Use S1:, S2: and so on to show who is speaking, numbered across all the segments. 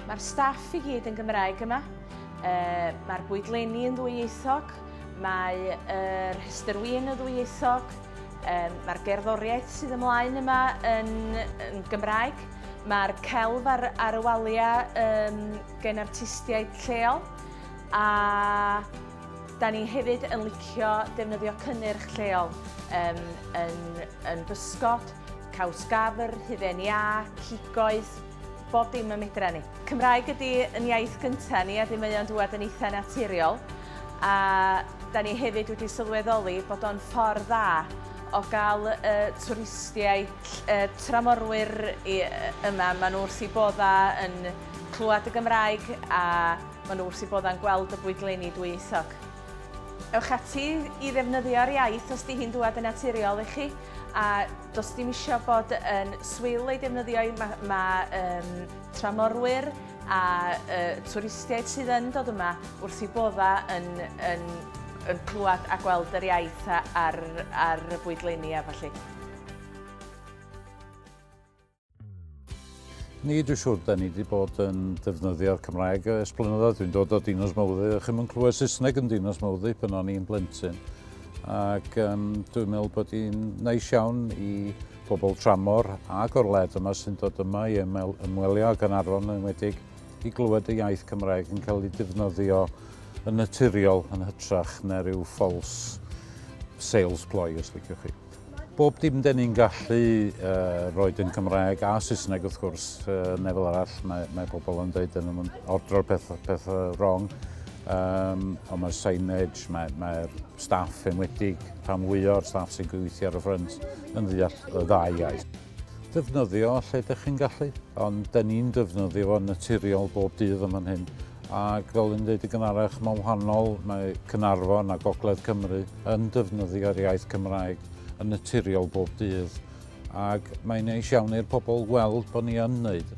S1: Mae'r staff i gyd yn Gymraeg yma. E, Mae'r bwydlenni yn ddwyieithog, mae yr rhestr wyn yn ddwyieithog, e, mae'r gerddoriaeth sydd ymlaen yma yn, yn Gymraeg, mae'r celf ar, ar y waliau e, gen artistiaid lleol, A da ni hefyd yn licio defnyddio cynnyrch lleol um, yn, yn bysgod, caws gafr, hufen iâ, cigoedd, bob dim y medra ni. Cymraeg ydy yn iaith gyntaf ni a dim mae o'n dŵad yn eitha naturiol. A da ni hefyd wedi sylweddoli bod o'n ffordd dda o gael y twristiaid, y tramorwyr yma, maen nhw wrth i bodda yn clywed y Gymraeg a Maen nhw wrth eu boddau'n gweld y bwydleini dwyieithog. Ewch ati i ddefnyddio'r iaith os di hi'n dŵad yn naturiol i chi a does dim isio bod yn swil ei defnyddio i. Mae ma, um, tramorwyr a uh, twristiaid sydd yn dod yma wrth eu boddau yn, yn, yn clywed a gweld yr iaith ar, ar y bwydleini a falle.
S2: Ni, dwi'n siŵr, da ni wedi bod yn defnyddio'r Cymraeg ers blynyddoedd. Dwi'n dod o Dinos Mawddu, a chi'n mynd clywed Saesneg yn Dinos Mawddu pan o'n i'n blentyn. Ac um, dwi'n meddwl bod hi'n neis iawn i bobl tramor a gorled yma sy'n dod yma i ymwel, ymwelio ag Anarfon yn wedig i glywed y iaith Cymraeg yn cael ei defnyddio yn naturiol yn hytrach na rhyw false sales ploy, os liciwch chi. Bob dim dyn ni'n gallu uh, roed yn Cymraeg a Saesneg wrth gwrs, uh, nefel arall mae, mae pobl yn dweud yn ordro'r peth, peth wrong. Um, ond mae'r signage, mae'r mae staff enwedig, rhan fwy o'r staff sy'n gweithio ar y ffrynt yn ddeall y ddau iaith. ddefnyddio lle dych chi'n gallu, ond da ni'n defnyddio fo'n naturiol bob dydd yma'n hyn. Ac fel yn dweud i gynharach, mae'n wahanol, mae Cynarfon a Gogledd Cymru yn defnyddio'r iaith Cymraeg yn naturiol bob dydd. Ac mae'n neis iawn i'r pobl weld bod ni yn wneud.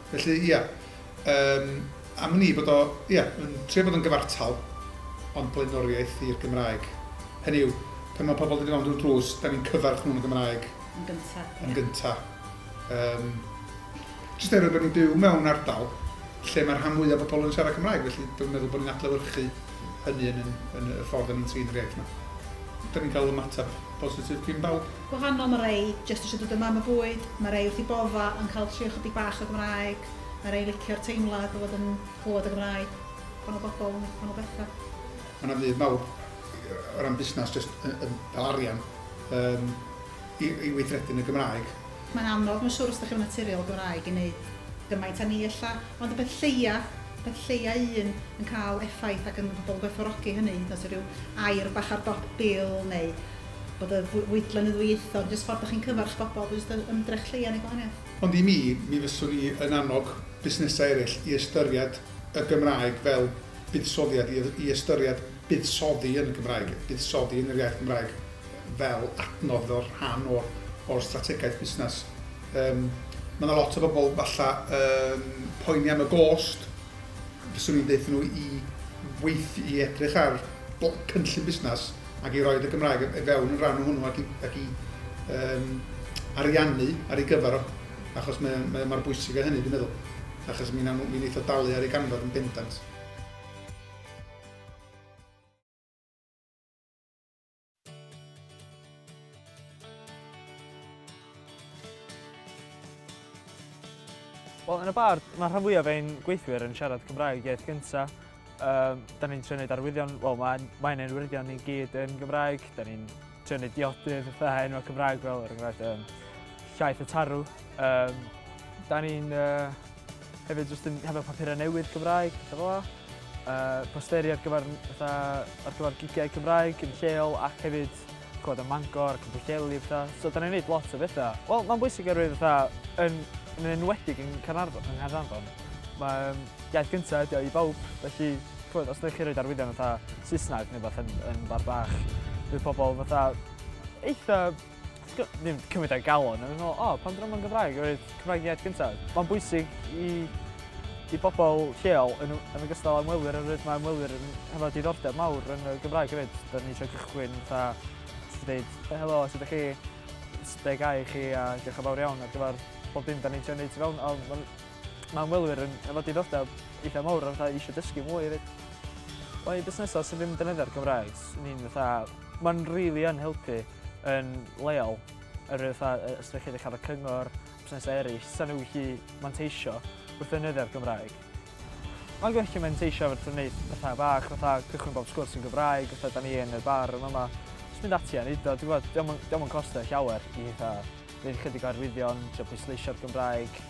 S3: Felly,
S4: ia, yym, am wn i bod o, ia, yn trio bod yn gyfartal, ond blaenoriaeth i'r Gymraeg. Hynny yw, pan mae pobl yn dod i mewn drwy'r drws, da ni'n cyfarch nhw'n y Gymraeg. Yn gynta. Yn
S3: gynta.
S4: Um, Just er bod ni'n byw mewn ardal lle mae'r rhan mwyaf o bobl yn siarad Cymraeg, felly dwi'n meddwl bod ni'n adlewyrchu hynny yn, yn, yn y ffordd da ni'n trin yr iaith yma. Da ni'n cael ymateb positif gyn bawb. gwahanol, ma rei
S3: jyst isio dod yn mam o fwyd, ma rei wrth i bodda yn cael trio chydig bach o Gymraeg, ma rei licio'r teimlad o fod yn clywed y Gymraeg, gwahanol bobl, gwahanol betha. Ma na fudd mawr
S4: o ran busnas jyst yn ca'l arian yym i i weithredu yn y Gymraeg. Mae'n anodd mae'n siwr
S3: os dych chi ddim yn naturiol o Gymraeg i neud gymaint a ni ella, ond y peth lleia, peth lleia un yn cael effaith ac yn ma pobl yn gwerthfawrogi hynny hyd yn oes ryw air bach ar dop bil neu bod y fwy- fwydlen yn ddwyieithog, jyst ffordd dach chi'n cyfarch bobl, jyst yr ymdrech lleia neu gwahaniaeth. Ond i mi, mi
S4: fyswn i yn annog busnesau eraill i ystyried y Gymraeg fel buddsoddiad, i y- i ystyried buddsoddi yn y Gymraeg, buddsoddi yn yr iaith Gymraeg fel adnodd, fel rhan o'r o'r strategaeth busnes. Yym, ma' 'na lot o bobl falla yn poeni am y gost, fyswn i'n deutho nhw i weith- i edrych ar bl- cynllun busnes, ac i roid y Gymraeg i fewn yn rhan o hwnnw ac i, ac i um, ariannu ar ei gyfer o, achos mae, mae, mae'r bwysig o hynny, dwi'n meddwl, achos mi'n mi eitha dalu ar ei ganfod yn bendant.
S5: Wel, yn y bar, mae rhan fwyaf ein gweithwyr yn siarad Cymraeg iaith gyntaf. Um, da ni'n trio gwneud arwyddion, wel, mae'n mae ein arwyddion ni gyd yn Gymraeg. Da ni'n trio gwneud diodydd, fatha enwau Cymraeg fel, er enghraifft, um, llaeth y tarw. Um, da ni'n uh, Hefyd jyst yn hefo papurau newydd Cymraeg, pethau fel yna. Uh, posteri ar gyfer, fatha, ar gyfer gigiau Cymraeg yn lleol ac hefyd cod am Mangor ac yn Pwllheli a pethau. So da ni'n gwneud lot o bethau. Wel, mae'n bwysig oherwydd fatha, yn, yn enwedig yn Caernarfon, yng Nghaernarfon, mae um, iaith gyntaf ydi o i bawb, felly chwyd, os ydych chi'n rhoi arwyddion fatha Saesneg neu beth yn, yn bar bach, bydd pobl fatha eitha Ddim cymryd ar galon, o'n i'n meddwl, o, pan drama yn Gymraeg, o'r Cymraeg iaith gyntaf. Mae'n bwysig i, i bobl lleol yn, yn ogystal â ymwelwyr, oherwydd mae ymwelwyr yn hefo diddordeb mawr yn y Gymraeg hefyd. Da ni eisiau cychwyn fatha, ti'n dweud, helo, sydd ydych chi? be gai chi a diolch yn fawr iawn ar gyfer pob dim da ni'n trio wneud tu fewn. A mae ma ymwelwyr yn efo diddordeb eitha mawr a fatha eisiau dysgu mwy hefyd. Mae busnesau sydd ddim yn defnyddio'r Gymraeg, ni'n fatha, mae'n rili really yn helpu. yn leol, yr fatha ystyrllyfr Carreg Cyngor, busnesau eraill, sa'n nhw gallu manteisio wrth ddefnyddio'r Gymraeg. Mae'n gallu manteisio wrth wneud pethau bach, fatha cychwyn bob sgwrs yn Gymraeg, fatha da ni yn y bar yn fama, jyst mynd ati a wneud o, dwi'n gwybod, dio'm yn costio llawer i fatha gwneud ychydig o arwyddion, trio pwysleisio'r Gymraeg.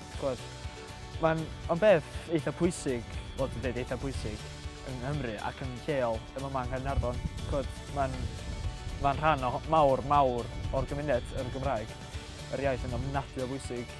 S5: Mae'n on beth eitha pwysig, bod yn dweud eitha pwysig, yng Nghymru ac yn lleol, yma mae yng Nghaernarfon. Mae'n ma rhan o mawr, mawr o'r gymuned yr Gymraeg. Yr iaith yn ofnadwy o bwysig.